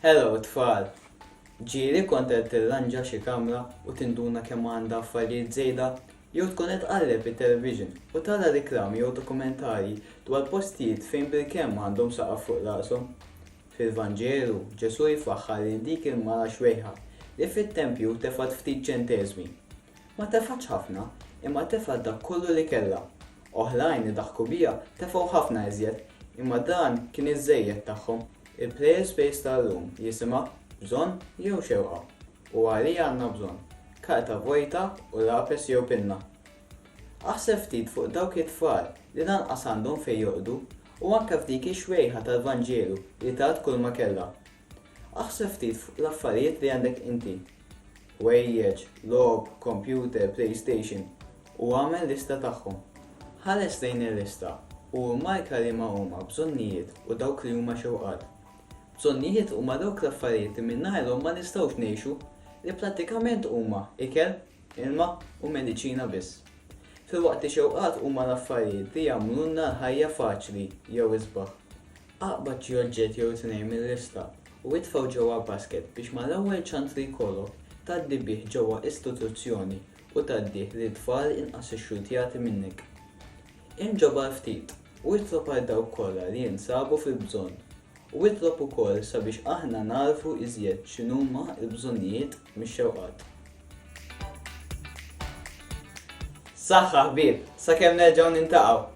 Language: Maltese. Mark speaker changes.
Speaker 1: Hello tfal! Ġieli kont qed tirranġa xi kamra u tinduna kemm għandha affarijiet żejda? Jew tkun qed tqalleb it-television u tara riklami jew dokumentarji dwar postijiet fejn bil-kemm għandhom saqaf fuq rashom? Fil-Vanġelu, Ġesù jfaħħar lil dik il-mara xwejħa li fit-tempju tefgħet ftit ċenteżmi. Ma tefgħetx ħafna, imma tefgħet dak kollu li kellha. Oħrajn li daħku biha tefgħu ħafna iżjed, imma dan kien iż-żejjed tagħhom. Il-Players Space ta' llum jisimha Bżonn jew Xewqa? u għalija għandna bżonn? Karta vojta u lapes jew pinna? Aħseb ftit fuq dawk it-tfal li lanqas għandhom fejn jorqdu u anke f'dik ix-xwejħa tal-Vanġelu li tat kulma kellha. Aħseb ftit fuq l-affarijiet li għandek inti, ħwejjeġ, logħob, kompjuter, playstation, u agħmel lista tagħhom. Ħares lejn il-lista u immarka liema huma bżonnijiet u dawk li huma xewqat. Bżonnijiet huma dawk l-affarijiet li mingħajrhom ma nistgħux ngħixu, li prattikament huma ikel, ilma, u mediċina biss. Filwaqt li xewqat huma l-affarijiet li jagħmlulna l-ħajja faċli jew isbaħ. Aqbad xi oġġett jew tnejn mil-lista u itfgħu ġewwa basket biex mal-ewwel ċans li jkollok, tgħaddi bih ġewwa istituzzjoni u tgħaddih lil tfal inqas ixxultjati minnek. Imġob għal ftit u itlob għal dawk kollha li jinsabu fil-bżonn u itlob ukoll sabiex aħna nagħrfu iżjed x'inhuma l-bżonnijiet mix-xewqat. Saħħa ħbieb, sakemm nerġgħu nintaqgħu.